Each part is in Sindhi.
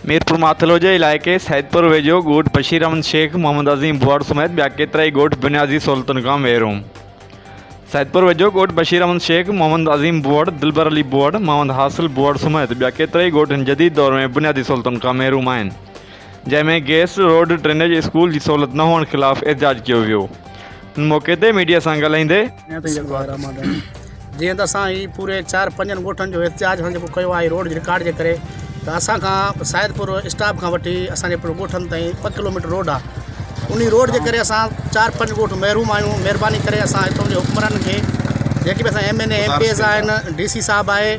ميرپورماٿل هوجي علائقي سيدپور ويجهو ڳوٺ بشير احمد شيخ محمد عظيم ڀوئر سميت ٻيا ڪيترائي ڳوٺ بنيادي سهولتن کان محروم سيدپور ويجهو ڳوٺ بشير احمد شيخ محمد عظيم ڀوئر دلبر علي ڀوئر محمد حاصل ڀوئر سميت ٻيا ڪيترائي ڳوٺ هن جديد دور ۾ بنيادي سهولتن کان محروم آهن جنهن ۾ گيس روڊ ڊرينيج اسڪول جي سهولت نه هئڻ خلاف احتجاج ڪيو ويو ان موقعي تي ميڊيا سان ڳالهائيندي بسم الله الرحمٰن الرحيم جيئن ته اسان هي پوري چار پنجن ڳوٺن جو احتجاج اسان جيڪو ڪيو آهي روڊ جي رڪارڊ جي ڪري ته اسان کان سيدپور اسٽاپ کان وٺي اسان جي ڳوٺن تائين ٻه ڪلوميٽر روڊ آهي انهي روڊ جي ڪري اسان چار پنج ڳوٺ محروم آهيون مهرباني ڪري اسان هتو جي حڪمرانن کي جيڪي به اسان MNA MPAs آهن ڊي سي صاحب آهي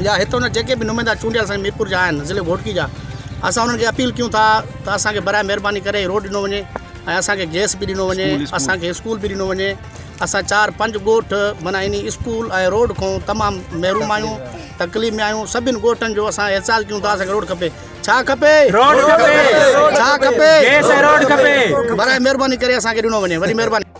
يا هتو جا جيڪي به نمائندا چونڊيل اسان ميرپور جا آهن ضلعي گهوٽڪي جا اسان انهن کي اپيل ڪيون ٿا ته اسان کي برائي مهرباني ڪري روڊ ڏنو وڃي ۽ اسان کي گئس به ڏنو وڃي اسان کي اسڪول به ڏنو وڃي اسان چار پنج ڳوٺ معنيٰ انهي اسڪول ۽ روڊ کان تمام محروم آهيون تڪليف ۾ آهيون سڀني ڳوٺن جو اسان احتجاج ڪيون ٿا اسان کي روڊ کپي ڇا کپي روڊ کپي ڇا کپي گئس ۽ روڊ کپي برائي مهرباني ڪري اسان کي ڏنو وڃي وڏي مهرباني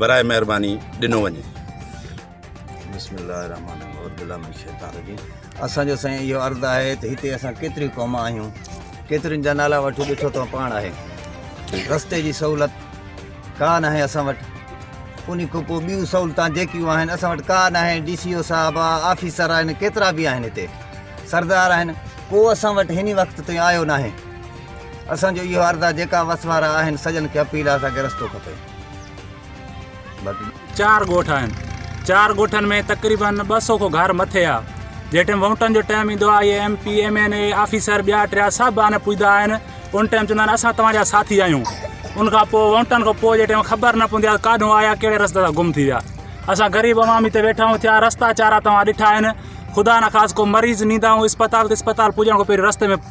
برائي مهرباني ڏنو وڃي. بسم الله الرحمن الرحيم اعوذ بالله من الشيطان الرجيم اسان جو سائين اهو عرض آهي ته هتي اسان ڪيتريون قوما آهيون ڪيترين جا نالا وٺو ڏٺو تو پاڻ آهي رستي جي سهولت ڪا نه آهي اسان وٽ ان کان پوء ٻيون سهولتان جيڪيون آهن اسان وٽ ڪا نه آهي ڊي سي او صاحب آ آفيسر آهن ڪيترا به آهن هتي سردار آهن ڪو اسان وٽ هن وقت تائين آيو ناهي اسان جو اهو عرض آهي جيڪا وس وارا آهن سڄن کي اپيل آهي اسان کي رستو کپي چار ڳوٺ آهن چار ڳوٺن ۾ تقريبن ٻه سو کان گهر مٿي آ جيٽم ووٽن جو ٽائم ايندو آ MP MNA officer ٻيا ٽيا سڀ آن پوجدا آهن ان ٽائم چوندا آهن اسان توهان جا ساٿي آهيون ان کان پوء ووٽن کان پوء جيٽم خبر نه پوندي آهي کاڏو آيا ڪهڙي رستي تان گم ٿي ويا اسان غريب عوام هتي ويٺا آهيون ٿيا رستا چارا توهان ڏٺا آهن خدا نه خاص ڪو مريض نيندا آهيون اسپتال ته اسپتال پوجڻ کان پهريون رستي ۾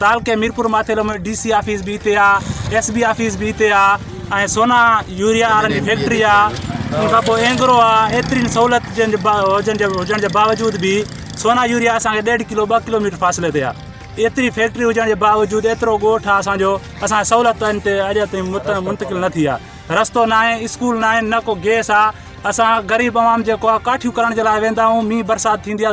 تعلقي Mirpur Mathelo ۾ DC office به هتي آهي ايس بي آفيس به هتي آهي ۽ سونا يوريا وارن جي فيڪٽري آهي ان کان پوء اينگرو آهي ايترين سهولت جن جي هجن جي هجڻ جي باوجود به سونا يوريا اسانکي ڏيڍ ڪلو ٻه ڪلو ميٽر فاصلي تي آهي ايتري فيڪٽري هجڻ جي باوجود ايترو ڳوٺ آهي اسانجو اسان سهولت ان تي اڄ تائين منتقل نه ٿي آهي رستو نه آهي اسڪول نه آهن نه ڪو گيس آهي اسان غريب عوام جيڪو آهي ڪاٺيون ڪرڻ جي لاء ويندا آهيون مينهن برسات ٿيندي آهي